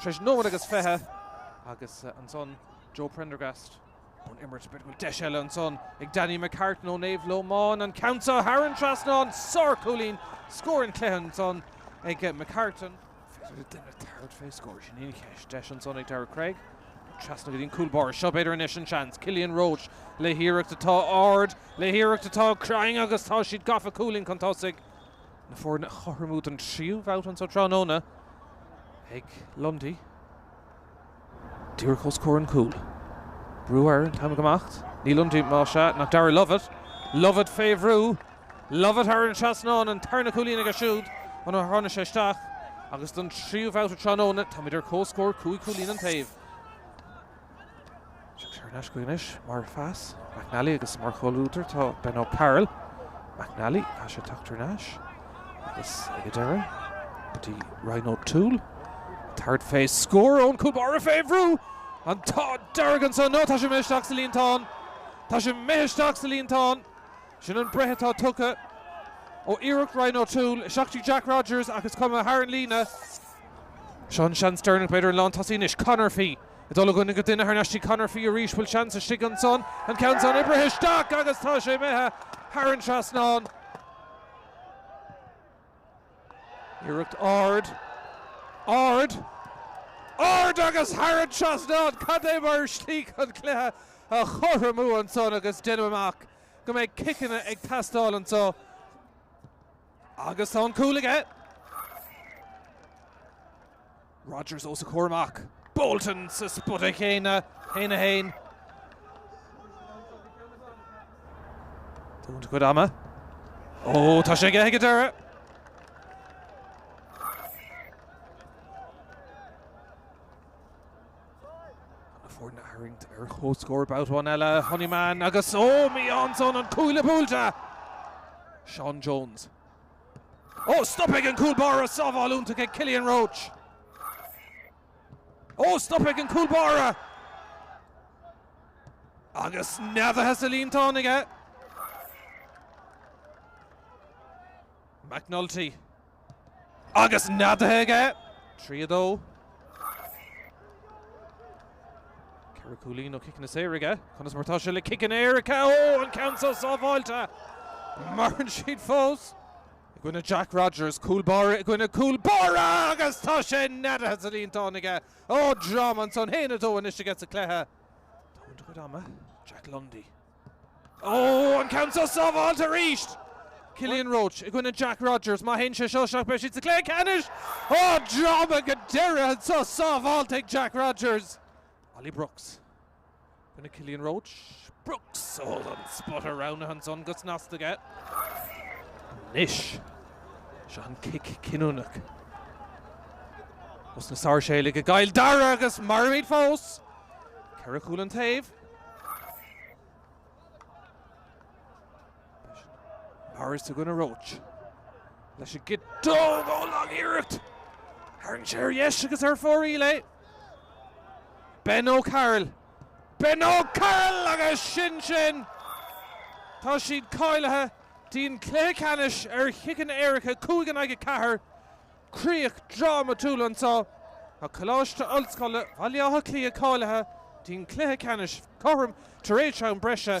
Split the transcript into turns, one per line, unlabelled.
tar éis nóiméad agus fiche agus ansan Joe Prendergast ón imirt, b'fhéidir go bhfuil deis eile ansan ag Danny McCartan ó Naomh Lómáin, an ceann so thar an trasnán, sárchúilín, scór an chluiche ansan ag McCartan. Féidir le duine tabhairt fé scór, sin í an cheist, deis ansan ag Daire Cregg, trasna go dtí an cúl báire, seo b'fhéidir anois an seans, Killian Roche le hiarracht atá ard, le hiarracht atá cruinn agus tá siad gafa, cúilín chun tosaigh. na foirne a chothromú don tríú babhta anso tráthnóna ag Lundy. Díreach os comhair an chúil. Brú air an t-am ag imeacht. Ní Lundy, más ea, nach Darragh Lovett. Lovett fé bhrú. Lovett thar an trasnán, an tarna cúilín aige siúd ó nuair a tháinig sé isteach agus don tríú babhta tráthnóna táimid ar comhscór cúig chúilín an taobh. Téann sé ar ais chuige anois mar phas, McNally, agus mar chomhluadar tá Ben O'Carroll, McNally, tá sé tagtar ar ais agus ag an deireadh go dtí Ryan O'Toole, tabhairt fé scór ón chúl báire fé bhrú, an t-ádh dearg ansan nó tá sé imithe isteach sa líontán, tá sé imithe isteach sa líontán, sin an breith atá tugtha ó iarracht Ryan O'Toole isteach go dtí Jack Rodgers ach is cuma, thar an líne. Seo an seans deireanach b'fhéidir an lántosaí anois, Conor Fee. Ag dul ó dhuine go duine thar n-ais go dtí Conor Fee arís bhfuil seans istigh ansan an ceann san oibrithe isteach agus tá sé imithe thar an trasnán. Iarracht ard, ard, ard agus thar an trasnán! Cad é mar shlí chun cluiche a chothromú ansan agus déanamh amach go mbeidh ciceanna ag teastáil anso agus tá an cúl aige. Rodgers os a chomhair amach. Bolton sa spota chéanna, 1-1. Tógaint a chuid ama. Ó, tá sé aige go deireadh! Na foirne a tharraingt ar comhscór babhta amháin eile, Honeyman agus ó, mí-ádh ansan, an cuaille buailte! Sean Jones. Ó, stoptha ag an gcúl báire! Sábháil iontach ag Killian Roche. Ó, stoptha ag an gcúl báire! Agus neadaithe sa líontán aige. McNulty. Agus neadaithe aige. Trí a dó. Ceithre chúilín ó chiceanna saora aige, conas mar atá sé le ciceanna éirice? Ó! An ceann so sábháilte! Maireann siad fós! I gcoinne Jack Rogers, cúl báire i gcoinne cúl báire agus tá sé neadaithe sa líontán aige! Ó! Dráma ansan, 1-2 anois aige sa chluiche. Tógaint a chuid ama. Jack Lundy. Ó, an ceann seo sábháilte arís! Cillian Roche i gcoinne Jack Rodgers. Má théann sé seo isteach beidh siad sa chluiche ceannais! Ó, dráma go deireadh anseo sábháilte ag Jack Rodgers. Ollie Brooks i gcoinne Cillian Roche. Brooks! Ó, an spota roghnaithe ansan go snasta aige. Anois, seo an cic cinniúnach. Os na Sáirséalaigh i gCill Dara agus mairimid fós! Ceithre chúl an taobh. Harris i gcoinne Roche. Leis an gciotóg ó lagiarracht. Tharraing sé ar dheis agus ar fóraoil é. Ben O'Carroll. Ben O'Carroll agus sin sin! Tá siad cáilithe dtí'n cluiche ceannais ar chiceanna éirice 5-4. críoch drámatúil anseo tá. Coláiste Ollscoile Bhaile Átha Cliath cáilithe dtí'n cluiche ceannais cothrom tar éis am breise.